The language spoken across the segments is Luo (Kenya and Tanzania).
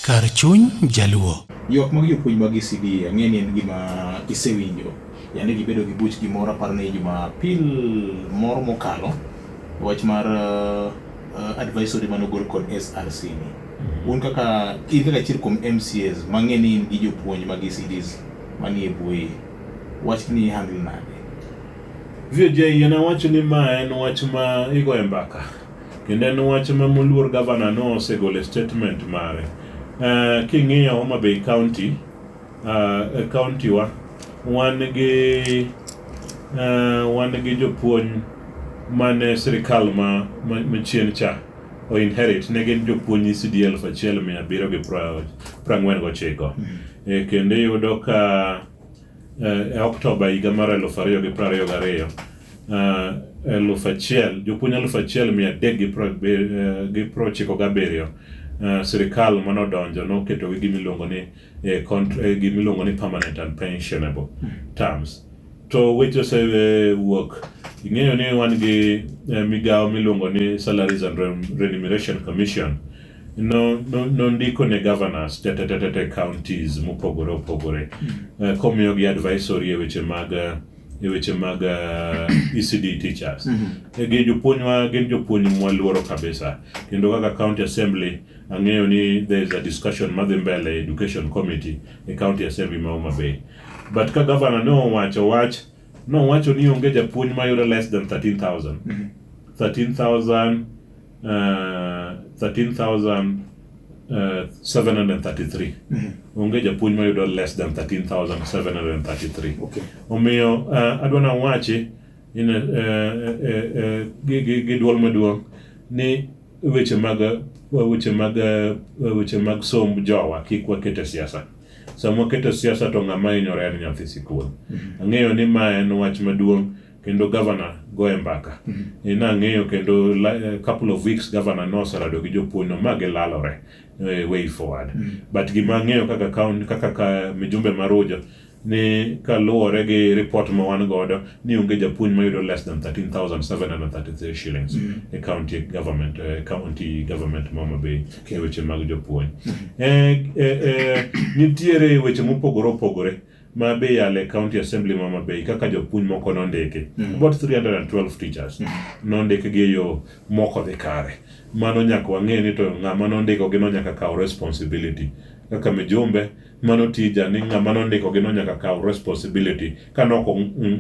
Kar chuny jaluo. Ywak mag jopuonj mag ECD ang'e ni en gima isewinjo. Yande gibedo gi buch gimoro aparo ni Jumapil moro mokalo wach mar uh, advisory mane ogol kod SRC ni. Mm-hmm. Un kaka in kaka achiel kuom MCAs mang'e ni in gi jopuonj mag ECDs manie buoyi. Wach ni handle nade? VJ, yena wacho ni ma en wach ma igoye mbaka. Kendo en wach ma moluor gavana no osegolo e statement mare. Uh, king'iyo Homa Bay County, uh, e county wa, wan gi uh, wan gi jopuonj mane sirikal ma machien cha o inherit ne gin jopuonj ECD elfu achiel mia abiriyo gi prang'wen gochiko. Mm. E, kendo iyudo ka E Oktoba higa mar eluf ariyo gi piero ariyo gariyo, eluf achiel, jopuonj eluf achiel mia adek gi piero ochiko gabiriyo sirkal mane odonjo noketogi gima iluongo ni eh, contr- eh, gima iluongo ni permanent and pensionable terms to weche osewuok ing'eyo ni wan gi eh, migawo miluongo ni salaries and Rem- remuneration commission no, no, nondiko ne governors tetetetete counties mopogore opogore mm. uh, komiyogi advisory e weche mag eh, e weche mag uh, eh, ECD teachers mm -hmm. gin jopuonjwa gin jopuonj mwaluoro kabisa kendo kaka county assembly ang'eyo ni there is a discussion madhi mbele education committee e county assembly ma Homa Bay but ka governor ne owacho wach nowacho ni onge japuonj mayudo less than 13000 mm -hmm. 13000 uh, 13,733 onge japuonj mayudo less than 13,733 Okay. omiyo uh, adwa nawachi in a, uh, uh, uh, gi, gi, gi duol maduong' ni weche mag weche mag uh, weche mag somb jowa kik wakete siasa sama wakete siasa to ng'ama hinyore en nyathi sikul ang'eyo ni ma en wach maduong' kendo gavana goye mbaka mm-hmm. e, nang'eyo kendo e, couple of weeks gavana noserado gi jopuonjno ma gilalore e, way forward mm-hmm. but gima ang'eyo kaka kaun kaka ka mijumbe maruja ni kaluwore gi report ma wan godo ni onge japuonj mayudo less than 13733 shillings mm. e county government e county government ma Homa Bay e weche mag jopuonj mm. e, e, e, nitiere weche mopogore opogore ma be yale county assembly ma Mabei kaka jopuonj moko nondiki mm. about 312 teachers mm. nondiki gi yo moko dhi kare mano nyaka wang'e ni to ng'ama nondiko gi no nyaka kaw responsibility kaka mijumbe mano tija ni ng'ama nondiko gi no nyaka kaw responsibility ka nok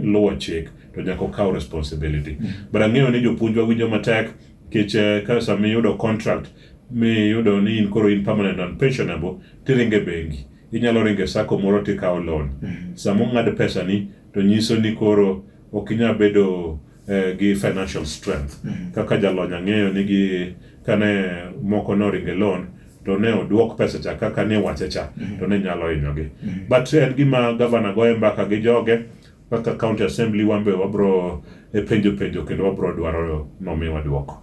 luwo chik to nyaka okaw responsibility mm. but ang'eyo ni jopuonjwa winjo matek kech eh, ka sama iyudo contract miyudo ni in koro in permanent and pensionable tiringe bengi Inyalo ringo e sacco moro to ikawo loan. Mm-hmm. Sama ong'ad pesani to nyiso ni koro ok inyal bedo eh, gi financial strength. Mm-hmm. Kaka jalony ang'eyo ni gi kane moko noringo e loan to ne oduok pesa cha kaka ne wache cha mm-hmm. to ne nyalo hinyogi. But en gima gavana goye mbaka gi joge kaka county assembly wan be wabro e penjo penjo kendo wabro dwaro nomiwa duoko.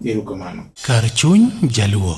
Kar chuny jaluo.